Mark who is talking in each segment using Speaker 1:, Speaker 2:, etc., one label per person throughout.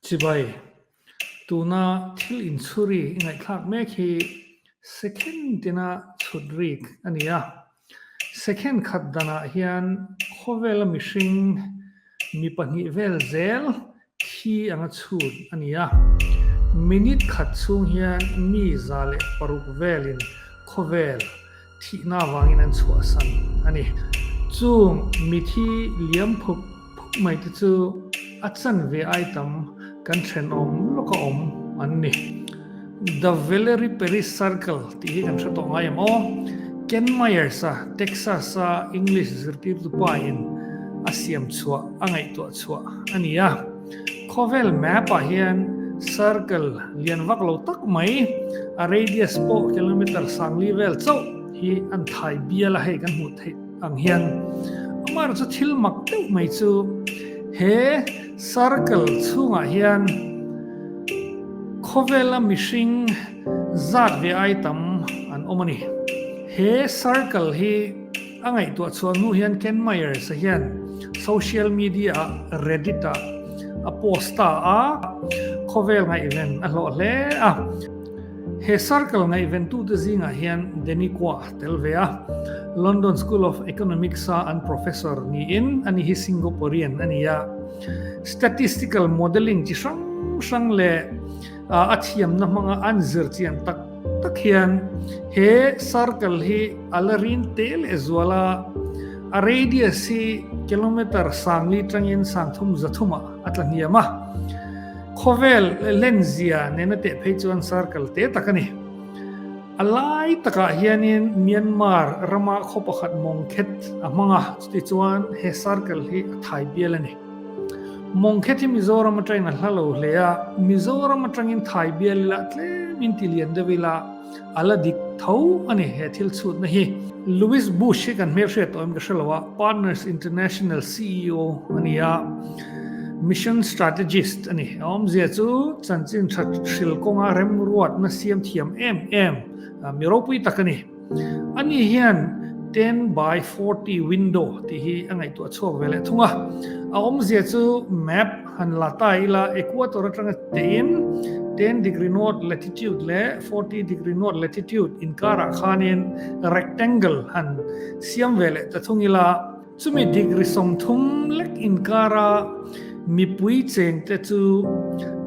Speaker 1: Chibai, tuna thil inchhuri ngaihthlak mek hi second tina chhut rik a ni a. Second khat danah hian khawvela mihring mi pahnih vel zel Thli anga chhun a ni a. Minute khat chhung hian mi za leh paruk velin khawvel thihna avangin an chhuahsan a ni. Chung mithi liam phup phup mai te chu a chan ve ai tam kan thenawm lawka awm an ni. The Valerie Perry Circle tih hi kan hre tawh ngai emaw? Ken Myers-a Texas-a English zirtirtu pain a siam chhuah, a ngaihtuah chhuah a ni a. Khawvel map-ah hian circle lian vak lo tak mai, a radius pawh kilometre sangli vel chauh hi an thai bial a hei kan hmuh theih ang hian. Amaherawhchu thil mak deuh mai chu he. Circle chhungah hian khawvela mihring zat ve ai tam an awm a ni. He circle hi a ngaihtuah chhuah hnu hian Ken Myers-a hian social media-ah Reddit-ah a post ta a, khawvel ngaihven a hlawh hle a. He circle ngaihventute zingah hian Deniqua Tel ve a, London School of Economics-a an professor niin a ni hi Singaporean a ni a. Statistical modelling chi hrang hrang leh a thiamna hmanga an zir chian tak tak hian he circle hi a la rin teh leh zual a, a radius hi kilometre sang li tangin sang thum za thuma a tla hniam a. Khawvel lenzia nena teh phei chuan circle te tak a ni. A lai takah hianin Myanmar rama khaw pakhat mawng khet a hmang a, chutichuan he circle hi a thai bial a ni. Mawng khet hi Mizoram atangin a hla lo hle a, Mizoram atangin thai bial ila tlemin ti lian deuh ila a la dik tho a ni he thil chhutna hi. Louis Bush hi kan hmel hriat tawh em ka hre lo a, Partners International CEO a ni a. Mission Strategist a ni. A awmzia chu chanchin tha hril kawnga remruatna siamthiam em em mi ropui tak a ni. Ani hian ten by forty window tih hi a ngaihtuah chhuak ve leh thung a. A awmzia chu map han la ta ila equator atanga teiin ten degree north latitude leh forty degree north latitude inkarah khanin rectangle han siam ve leh ta thung ila, Chumi degree sawmthum lek inkara mipui chengte chu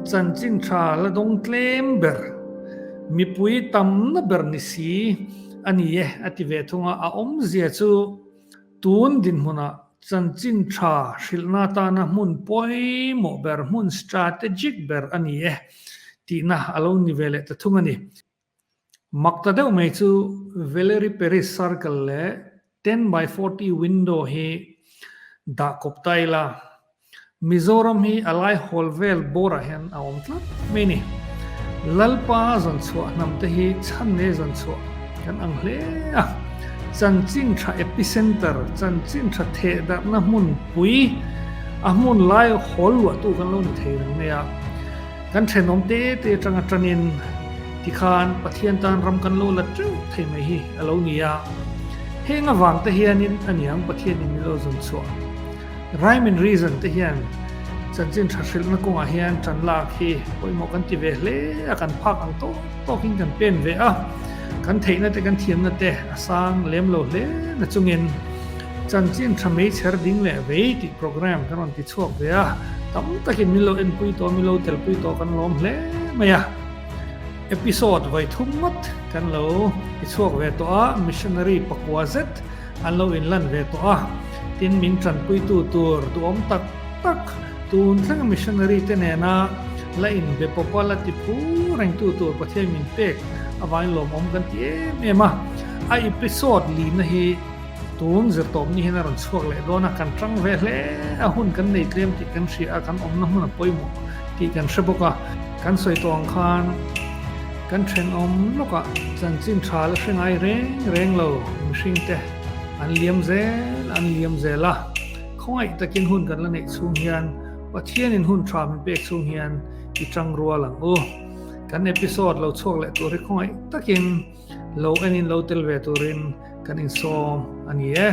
Speaker 1: chanchin tha la dawng tlem ber, mipui tamna ber ni si a ni e a ti ve thung a, a awmzia chu tun dinhmunah chanchin tha hrilhna atana hmun pawimawh ber, hmun strategic ber a ni e tihna a lo ni ve leh ta thung a ni. Mak ta deuh mai chu Valery Peris Circle leh ten by forty window hi dah kawp ta ila, Mizoram hi a lai hawl vel bawrah hian a awm tlat mai a ni. Lalpa zawn chhuah hnam te hi chhan leh zawn chhuah kan ang hle a. Chanchinṭha epicentre, Chanchinṭha theh darhna hmun pui, a hmun lai hawl luahtu kan lo ni thei reng mai a. Kan thenawm te te atanga tanin tikhan Pathian tan ram kan lo la teuh thei mai hi a lo ni a. Heng avangte hianin a niang Pathian in min lo zun chhuah. Rhyme and Reason te hian chanchin tha hrilhna kawngah hian tan lak hi pawimawh kan ti ve hle a, kan phak ang tawk tawkin kan pen ve a, kan theihna te kan thiamna te a sang lem lo hle nachungin, Chanchin tha mei chher ding leh vei tih programme kan rawn ti chhuak ve a, tam takin min lo enpui tawh a, min lo telpui tawh kan lawm hle mai a. Episode vai thum ngawt kan lo ti chhuak ve tawh a, missionary pakua zet an lo inlan ve tawh a, tin min tanpuitu tur duhawm tak tak tun thleng missionary te nena la inbe pawp a, la tipu rengtu tur Pathian min pek avangin lawmawm kan ti em em a. A episode lina hi. Tun zirtawp nihin a rawn chhuak leh dawn a, kan ṭang ve hle a, hun kan nei tlem tih kan hria a, kan awmna hmun a pawimawh tih kan hre bawk a. Kan sawi tawng khan kan ṭhenawm lawkah chanchin ṭha la hre ngai reng reng lo, mihringte an liam zel an liam zel a, khawngaih takin hun kan la neih chhung hian Pathianin hun ṭha min pek chhung hian i ṭang rual ang u. Kan episode lo chhuak leh tur hi khawngaih takin Lo engin lo tel ve turin kan insawm a ni e.